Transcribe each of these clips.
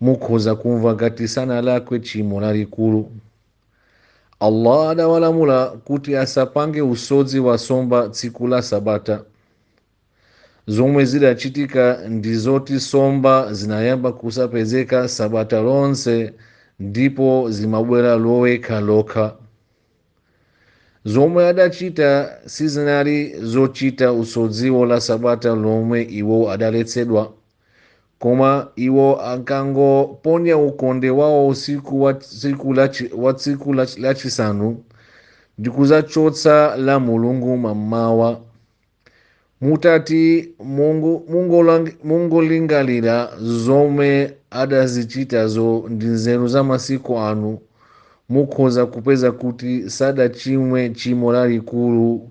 mukhoza kumva ngati sanalakwe tchimo lalikulu allah adawalamula kuti asapange usodzi wa nsomba tsiku la sabata zomwe zidachitika ndi zoti nsomba zinayamba kusapezeka sabata lonse ndipo zimabwera loweruka lokha zomwe adachita sizinali zochita usodziwo la sabata lomwe iwo adaletsedwa koma iwo ankangoponya ukonde wawo usiku wa tsiku lachi- wa tsiku lachi- lachisanu ndi kudzachotsa la mulungu mammawa mutati mungu- mungolang- mungolingalira zomwe adazichitazo ndi nzeru za masiku ano mukhoza kupeza kuti sadachimwe tchimo lalikulu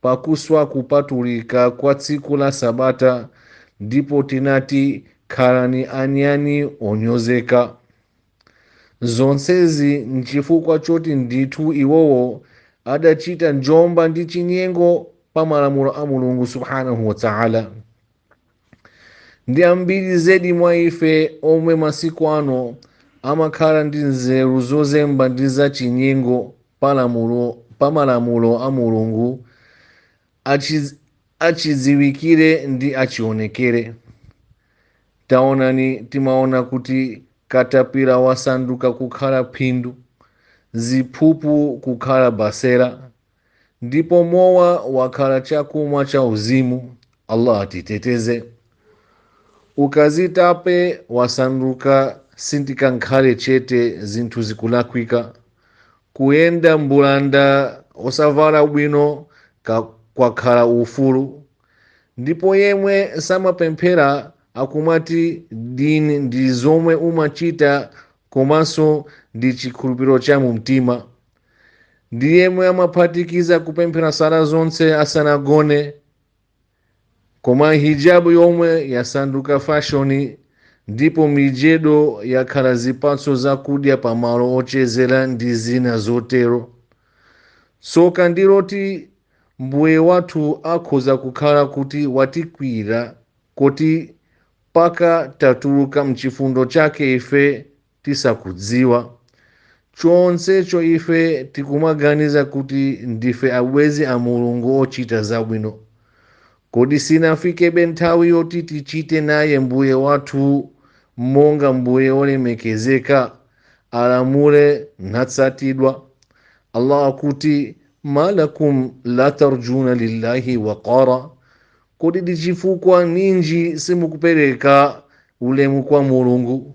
pakuswa kupatulika kwa tsiku la Sabata ndipo tinati, Khalani anyani onyozeka. Zonsezi nchifukwa choti ndithu iwowo adachita njomba ndi chinyengo pa malamulo a Mulungu Subhaanahu wa Ta'ala. ndi ambiri zedi mwa ife omwe masiku ano amakhala ndi nzeru zozemba ndi zachinyengo pa lamulo- pa malamulo a mulungu achi- achidziwikire ndi achionekere taonani timaona kuti katapira wasanduka kukhala phindu ziphuphu kukhala banyira ndipo mowa wakhala chakumwa cha uzimu allah atiteteze ukazitape wasanduka sindikankhale chete zinthu zikulakwika kuyenda mbulanda osavala bwino ka- kwakhala ufulu ndipo yemwe samapemphera akumati dini ndi zomwe umachita komanso ndi chikhulupiriro cha mumtima ndi yemwe amaphatikiza kupemphera sala zonse asanagone koma hijabu yomwe yasanduka fashoni ndipo mijedo yakhala zipatso zakudya pamalo ochezera ndi zina zotero tsoka ndi loti mbuye wathu akhoza kukhala kuti watikwiyira koti mpaka tatuluka mchifundo chake ife tisakudziwa. Chonsecho ife tikumaganiza kuti ndife abwenzi a Mulungu ochita zabwino. Kodi sinafikebe nthawi yoti tichite naye Mbuye wathu monga Mbuye wolemekezeka, akalamula natsatidwa? Allah akuti, Ma lakum la tarjuna lillahi waqara. Kodi ndi chifukwa ninji simukupereka ulemu kwa Mulungu?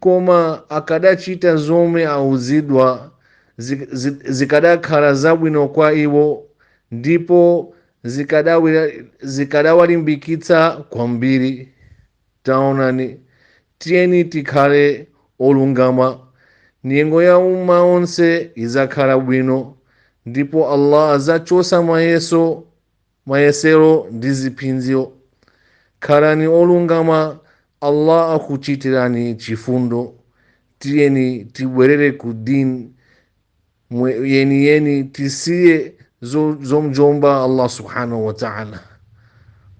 Koma akadachita zomwe auzidwa, zikadakhala zabwino kwa iwo ndipo zikadawalimbikitsa kwambiri. Taonani, tiyeni tikhale olungama. Nyengo ya umma onse idzakhala bwino, ndipo Allah adzachotsa mayeso mayesero ndi ziphinjo. Khalani olungama Allah akuchitirani chifundo. Tiyeni tibwerere ku deen yeniyeni tisiye zomujomba Allah Subhanahu wa Ta'ala.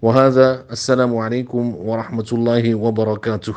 Wa hadha assalamu alaikum wa rahmatullahi wa barakatuh.